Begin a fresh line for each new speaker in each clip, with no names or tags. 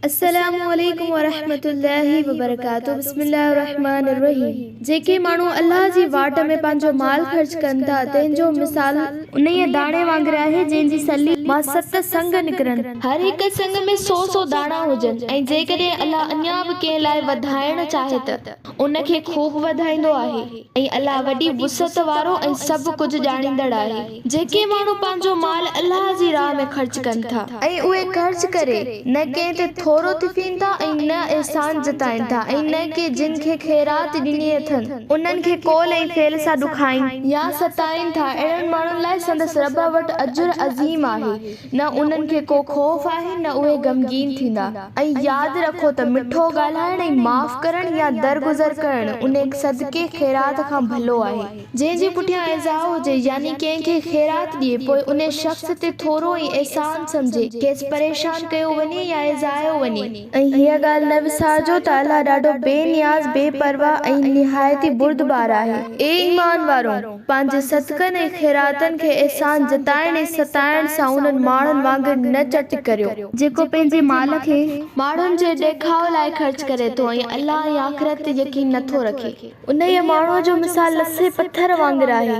السلام عليڪم ورحمة الله وبرڪاته بسم الله الرحمٰن الرحيم جيڪي ماڻهو الله جي واٽ ۾ پنهنجو مال خرچ ڪن ٿا تنهن جو مثال انهيء داڻي وانگر آهي جنهن جي سلي مان ست سنگ نڪرن هر هڪ سنگ ۾ سو سو داڻا هجن ۽ جيڪڏهن الله اڃا به ڪنهن لاء وڌائڻ چاهي ته ان کي خوب وڌائيندو آهي ۽ الله وڏي وسعت وارو ۽ سڀ ڪجهه ڄاڻيندڙ آهي. جيڪي ماڻهو پنهنجو مال الله جي راهه ۾ خرچ ڪن ٿا. ۽ اهي خرچ ڪري نه ڪنهن تي ٿورو ٿڦين ٿا ۽ نه احسان جتائين ٿا ۽ نه ڪي جن کي خيرات ڏني اٿن انهن کي قول ۽ فعل سان ڏکائين يا ستائين ٿا اهڙن ماڻهن لاء سندس رب وٽ اجر عظيم آهي نه انهن کي ڪو خوف آهي نه اهي غمگين ٿيندا. ۽ ياد رکو ته مٺو ڳالهائڻ ۽ معاف ڪرڻ يا درگذر ڪرڻ انهيء صدقي، خيرات، کان ڀلو آهي. جنهن جي پٺيان ايذاء هجي، يعني ڪنهن کي خيرات ڏئي، پوء ان شخص تي ٿورو ۽ احسان سمجهي، کيس پريشان ڪيو وڃي يا ايذايو وڃي. ۽ هيء ڳالهه نه وسارجو ته الله ڏاڍو بي نياز، بي پرواهه ۽ نهايت ئي بردبار آهي. اي ايمان وارؤ! پنهنجي صدقن ۽ خيراتن کي احسان جتائڻ ۽ ستائڻ سان انهن ماڻهن وانگر نه چٽ ڪريو. جيڪو پنهنجي مال کي ماڻهن جي ڏيکاء لاء خرچ ڪري ٿو ۽ الله ۽ آخرت تي يقين نٿو رکي. انهيء ماڻهوء جو مثال لسي پٿر وانگر آهي،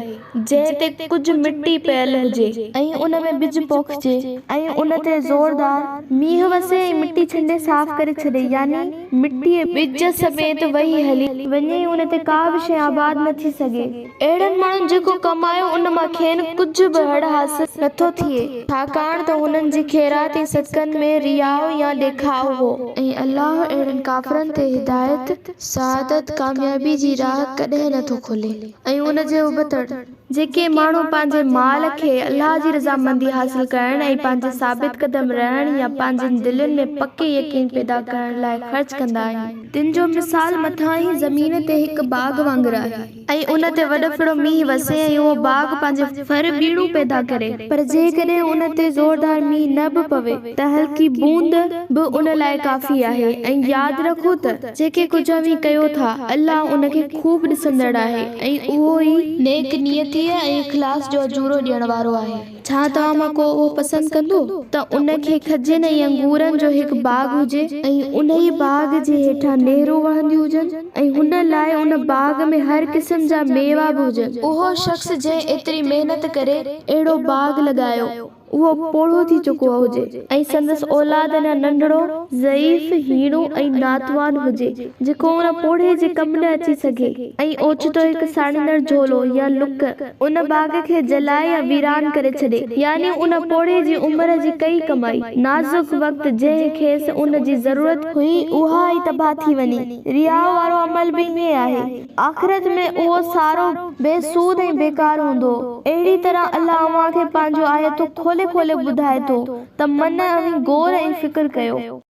جنهن تي ڪجهه مٽي پيل هجي ۽ ان ۾ ٻج پوکجي ۽ ان تي زوردار مينهن وسي ۽ مٽي ڇنڊي صاف ڪري ڇڏي، يعني مٽيء ٻج سميت وهي هلي وڃي ۽ ان تي ڪا به شيء آباد نه ٿي سگهي. اهڙن ماڻهن جيڪو ڪمايو، ان مان کين ڪجهه به هڙ حاصل نه ٿو ٿئي، ڇاڪاڻ ته هنن جي خيرات ۽ صدقن ۾ رياء يا ڏيکاء هو. ۽ الله اهڙن ڪافرن تي هدايت سعادت ڪاميابي جي راهه ڪڏهن نه ٿو کولي ۽ ان جي ابتڙ، جيڪي ماڻهو پنهنجي مال کي الله جي رضامندي حاصل ڪرڻ ۽ پنهنجي ثابت قدم رهڻ يا پنهنجين دلين ۾ پڪي يقين پيدا ڪرڻ لاء خرچ ڪندا آهن، تن جو مثال مٿانهين زمين تي هڪ باغ وانگر آهي. ۽ ان تي وڏ ڦڙو مينهن وسي ۽ اهو باغ پنهنجي ڦر ٻيڻو پيدا ڪري پر جيڪڏهن ان تي زوردار مينهن نه به پوي ته هلڪي بوند به ان لاء ڪافي آهي ۽ ياد رکو ته جيڪي ڪجهه اوهين ڪيو ٿا الله ان کي خوب ڏسندڙ آهي ۽ اهو ئي نيڪ نيتيء ۽ اخلاص جو اجورو ڏيڻ وارو آهي. ڇا توهان مان ڪو اهو پسند ڪندو ته ان کي کجين ۽ انگورن جو هڪ باغ هجي ۽ انهيء باغ جي هيٺان نهرون وهنديون هجن ۽ ان لاء ان باغ ۾ هر قسم جا ميوا به هجن؟ اهو شخص جنهن ايتري محنت ڪري اهڙو باغ لڳايو، اهو پوڙهو ٿي چڪو هجي ۽ سندس اولاد اڃا ننڍڙو، ضعيف، هيڻو ۽ ناتوان هجي. جيڪو ان پوڙهي جي ڪم نه اچي سگهي ۽ اوچتو هڪ ساڙيندڙ جهولو يا لڪ ان باغ کي جلائي يا ويران ڪري ڇڏي، يعني ان پوڙهي جي عمر جي ڪئي ڪمائي، نازڪ وقت جنهن کيس ان جي ضرورت. هئي، اها ئي تباهه ٿي وڃي. رياء وارو عمل به ائين آهي. آخرت ۾ اهو سارو بي سود ۽ بيڪار هوندو. اهڙيء طرح الله اوهان کي پنهنجون آيتون کولي کولي ٻڌائي ٿو ته من اوهين غور ۽ فڪر ڪيو.